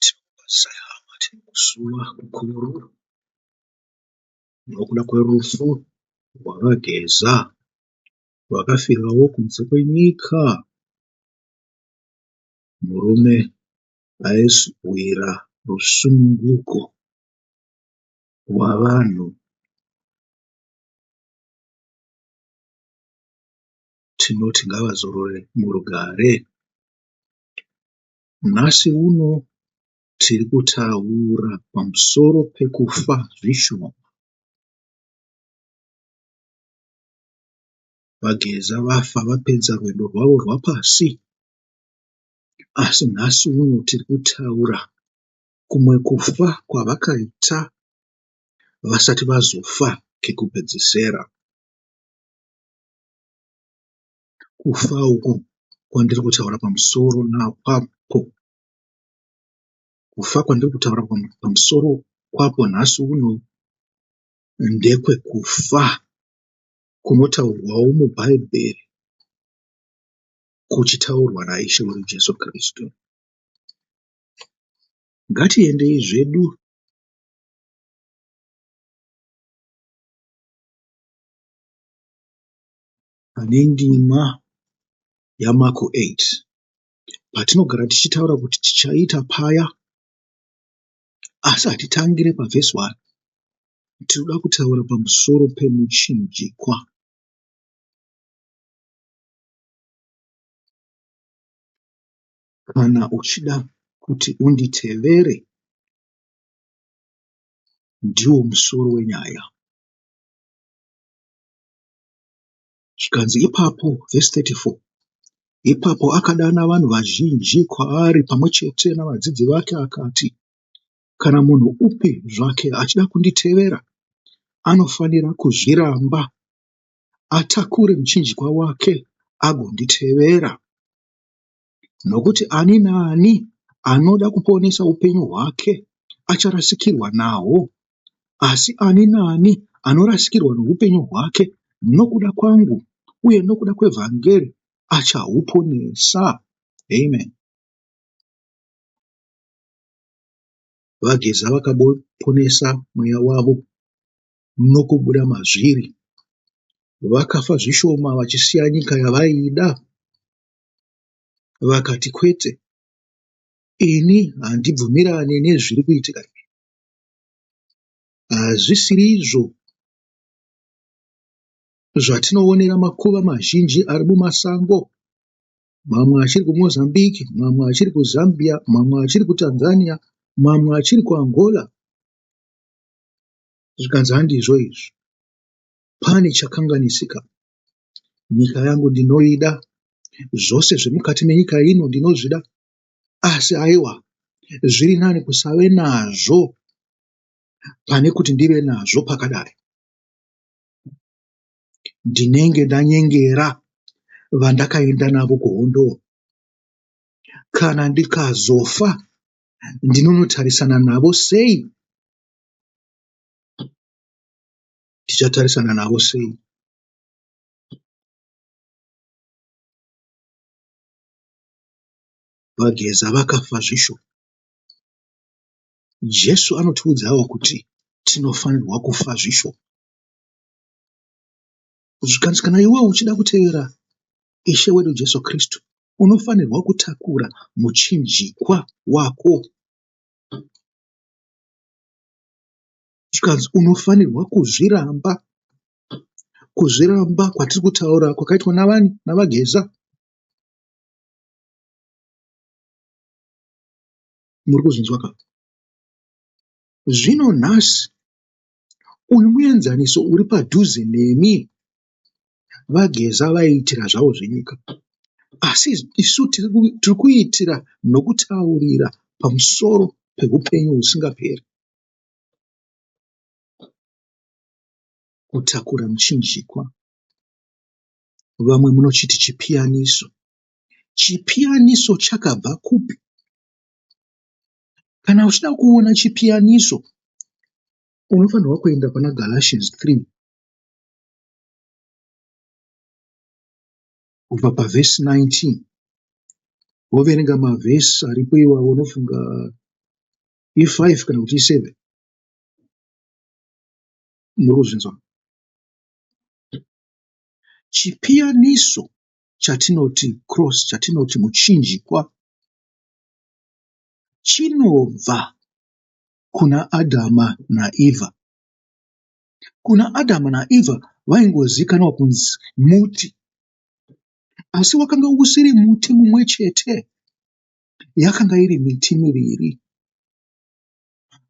Tinobatsira hama tinosungwa kukuru nokuda kwerufu rwaVaGeza vakafirawo kunze kwenyika murume aizowira rusununguko rwavanhu. Tinoti ngavazorore murugare. Nhasi uno tiri kutaura pamusoro pekufa zvishoma. VaGeza vafa vapedza rwendo rwavo rwapasi asi nhasi uno tiri kutaura kumwe kufa kwavakaita vasati vazofa kekupedzisera. kufa uku kwandiri kutaura pamusoro kwako kufa kwandiri kutaura pamusoro kwako nhasi uno ndekwekufa kunotaurwawo mubhaibheri kuchitaurwa naIshe wedu Jesu Kristu. Ngatiendei zvedu pane ndima yaMarko 8 patinogara tichitaura kuti tichaita paya asi hatitangire pavhesi 1 tinoda kutaura pamusoro pemuchinjikwa kana uchida kuti unditevere ndiwo musoro wenyaya Zvikanzi ipapo, vhesi 34, ipapo akadana vanhu vazhinji kwaari pamwe chete navadzidzi vake akati, Kana munhu upi zvake achida kunditevera, anofanira kuzviramba, atakure muchinjikwa wake agonditevera. nokuti ani naani anoda kuponesa upenyu hwake acharasikirwa nahwo, asi ani naani anorasikirwa noupenyu hwake nokuda kwangu uye nokuda kwevhangeri achahuponesa. Amen. VaGeza vakaponesa mweya wavo nokubuda mazviri. Vakafa zvishoma vachisiya nyika yavaida vakati kwete ini handibvumirane nezviri kuitika izvi hazvisiri izvo zvatinoonera makuva mazhinji ari mumasango mamwe achiri kumozambique mamwe achiri kuzambia mamwe achiri kutanzania mamwe achiri kuangola zvikanzi handizvo izvi pane chakanganisika Nyika yangu ndinoida, zvose zviri mukati menyika ino ndinozvida, asi aiwa zviri nani kusave nazvo pane kuti ndive nazvo pakadai. Ndinenge ndanyengera vandakaenda navo kuhondo. Kana ndikazofa ndinonotarisana navo sei? tichatarisana navo sei? VaGeza vakafa zvisho. Jesu anotiudzawo kuti tinofanirwa kufa zvisho. Zvikanzi kana iwe uchida kutevera Ishe wedu Jesu Kristu, unofanirwa kutakura muchinjikwa wako zvikanzi unofanirwa kuzviramba. Kuzviramba kwatiri kutaura kwakaitwa navani? NaVaGeza. Muri kuzvinzwa ka? Zvino nhasi uyu muenzaniso uri padhuze nemi vageza vaiitira zvavo zvenyika asi isu tiri ku- tiri kuitira nokutaurira pamusoro peupenyu husingaperi Kutakura muchinjikwa. Vamwe munochiti chipiyaniso. Chipiyaniso chakabva kupi? Kana uchida kuona chipiyaniso unofanirwa kuenda pana Galatians 3 kubva pavhesi 19 woverenga mavhesi aripo iwawo unofunga i5 kana kuti i7 muri kuzvinzwa chipiyaniso chatinoti cross chatinoti muchinjikwa chinobva kuna adhama naevha kuna adhama naevha vaingozikanwa kunzi muti asi wakanga usiri muti mumwe chete yakanga iri miti miviri.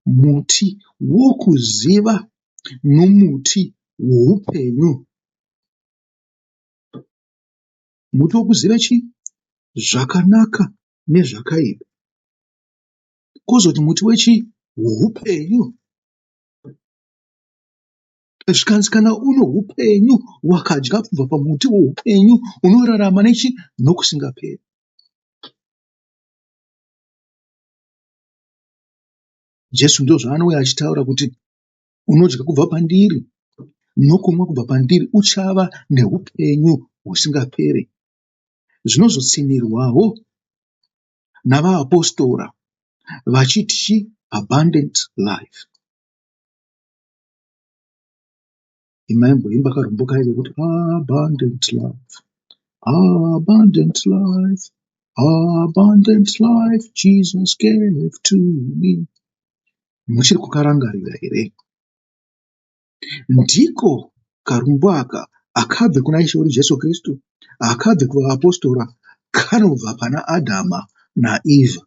Muti wokuziva nomuti woupenyu. Muti wokuziva chii? Zvakanaka nezvakaipa. Kozoti muti wechii? Woupenyu. Zvikanzi kana uno upenyu, wakadya kubva pamuti woupenyu, unorarama nechii? Nokusingaperi. Jesu ndozvaanouya achitaura kuti unodya kubva pandiri nokunwa kubva pandiri uchava neupenyu husingaperi. Zvinozotsinhirwawo navaapostora vachiti abundant life. imaimboimba karombo kaye kekuti abundant life abundant life abundant life jesus gave to me muchiri kukarangarira here ndiko karumbo aka akabve kuna ishe wedu jesu kristu akabve kuvaapostora kanobva pana adhama naeva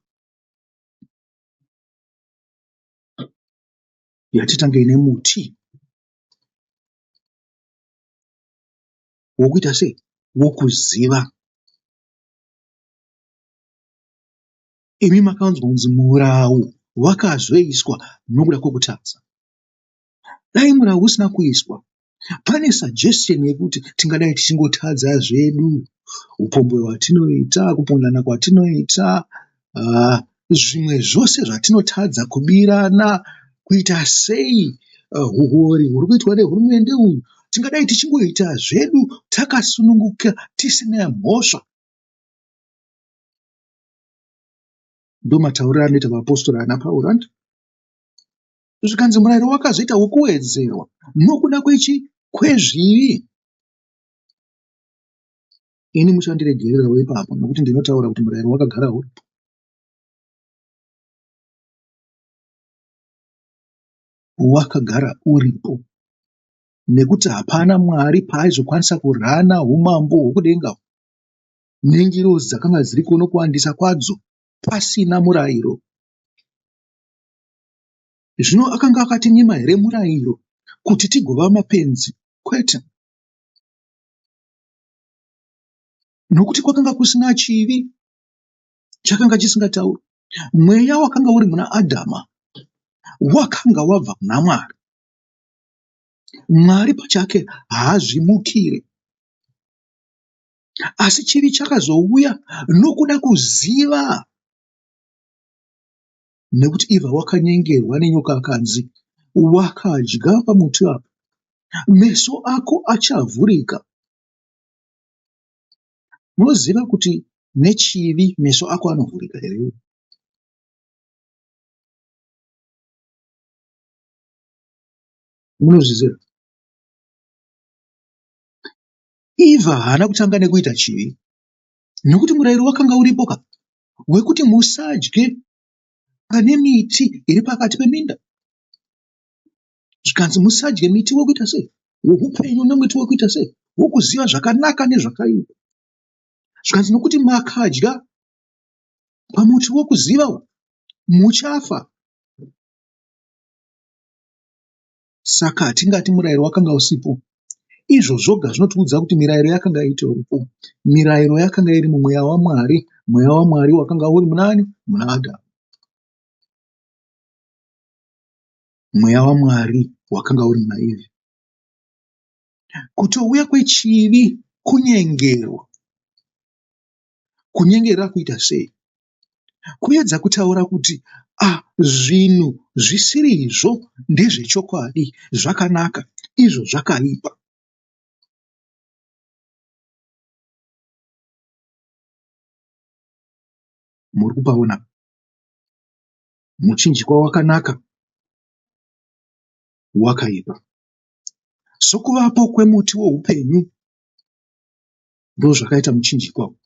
yatitange ine muti wokuita sei wokuziva imi makawanzwa kunzi murau wakazoiswa nokuda kwokutadza dai murau usina kuiswa pane suggestion yekuti tingadai tichingotadza zvedu upombwe hwatinoita kupondana kwatinoita aah zvimwe zvose zvatinotadza kubirana kuita sei huwori huri kuitwa nehurumende uyu tingadai tichingoita zvedu takasununguka tisina mhosva. Ndomatauriro anoita vapostori ana Pauro andi zvikanzi murayiro wakazoita wokuwedzerwa nokuda kwechi kwezvivi Ini muchandiregererawo ipapo nokuti ndinotaura kuti murayiro wakagara uripo. Wakagara uripo nekuti hapana Mwari paaizokwanisa kurana umambo hwokudenga nengirozi dzakanga dziri kuno kuwandisa kwadzo pasina murayiro. Zvino akanga akatinyima here murayiro kuti tigova mapenzi? Kwete. nokuti kwakanga kusina chivi chakanga chisingatauri mweya wakanga uri muna adhama wakanga wabva kuna mwari mwari pachake haazvimukire asi chivi chakazouya nokuda kuziva nekuti iva wakanyengerwa nenyoka akanzi wakadya pamuti apa meso ako achavhurika unoziva kuti nechivi meso ako anovhurika here munozviziva iva haana kutanga nekuita chivi nekuti murayiro wakanga uripo ka wekuti musadye pane miti iri pakati peminda zvikanzi musadye miti wekuita sei woupenyu nemuti wekuita sei wokuziva zvakanaka nezvakaipa zvikanzi nokuti makadya pamuti wokuziva muchafa Saka hatingati murayiro wakanga usipo. Izvo zvoga zvinotiudza kuti mirayiro yakanga itoripo. Mirayiro yakanga iri mumweya waMwari, mweya waMwari wakanga uri munani? Muna Adhamu. Mweya waMwari wakanga uri muna Ivhi. Kutouya kwechivi kunyengerwa. Kunyengerwa kuita sei? kuedza kutaura kuti ah zvinhu zvisirizvo ndezvechokwadi zvakanaka izvo zvakaipa. Muri kupaona muchinjikwa wakanaka wakaipa sokuvapo kwemuti woupenyu ndozvakaita muchinjikwa uyu.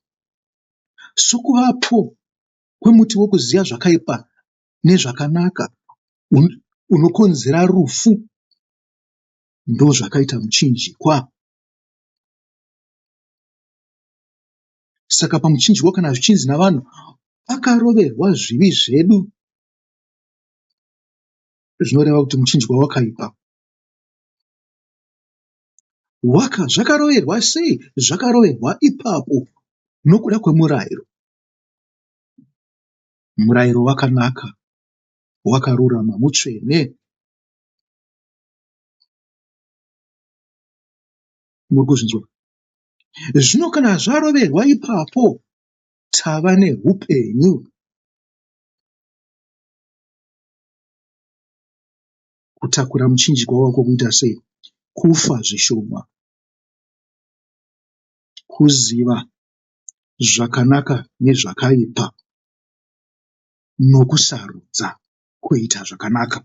Sokuvapo kwemuti wekuziva zvakaipa nezvakanaka unokonzera rufu ndozvakaita muchinjikwa. Saka pamuchinjikwa kana zvichinzi navanhu pakaroverwa zvivi zvedu zvinoreva kuti muchinjikwa wakaipa. Waka, zvakaroverwa sei? Zvakaroverwa ipapo nokuda kwemurairo. Murairo wakanaka, wakarurama, mutsvene. Muri kuzvinzwa? Zvino kana zvaroverwa ipapo, tava neupenyu. kutakura muchinjikwa wako kuita sei? Kufa zvishoma. Kuziva zvakanaka nezvakaipa nokusarudza kuita zvakanaka.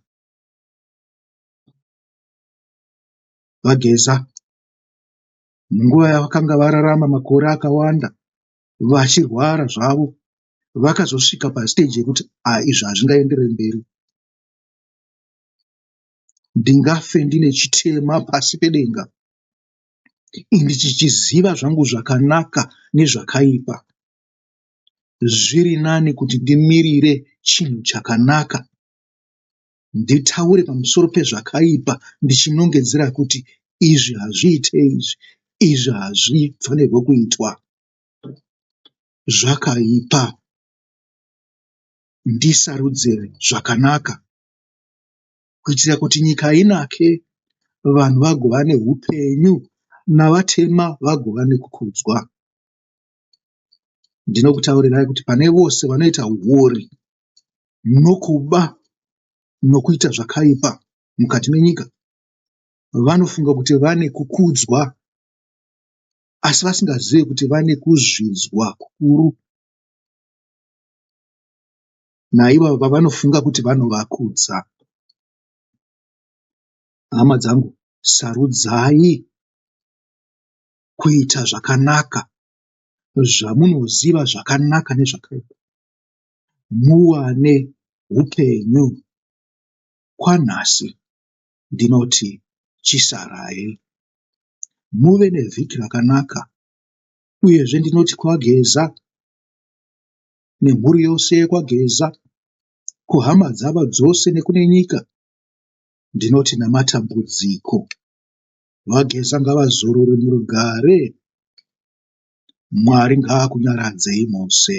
VaGeza munguva yavakanga vararama makore akawanda vachirwara zvavo vakazosvika pasiteji yekuti ah izvi hazvingaenderere mberi ndingafe ndine chitema pasi pedenga ini ndichichiziva zvangu zvakanaka nezvakaipa. Zviri nani kuti ndimirire chinhu chakanaka nditaure pamusoro pezvakaipa ndichinongedzera kuti izvi hazviite izvi, izvi hazvifanirwe kuitwa, zvakaipa. ndisarudzire zvakanaka kuitira kuti nyika inake vanhu vagova neupenyu navatema vagova nekukudzwa. Ndinokutaurirai kuti pane vose vanoita huori nokuba nokuita zvakaipa mukati menyika vanofunga kuti vane kukudzwa asi vasingazive kuti vane kuzvidzwa kukuru. naivavo vavanofunga kuti vanovakudza. Hama dzangu, sarudzai kuita zvakanaka zvamunoziva zvakanaka nezvakaipa muwane upenyu kwanhasi ndinoti chisarai muve nevhiki rakanaka uyezve ndinoti kwageza nemhuri yose yekwaGeza, kuhama dzavo dzose nekune nyika, ndinoti namatambudziko. VaGeza ngavazorore murugare. Mwari ngaakunyaradzei mose.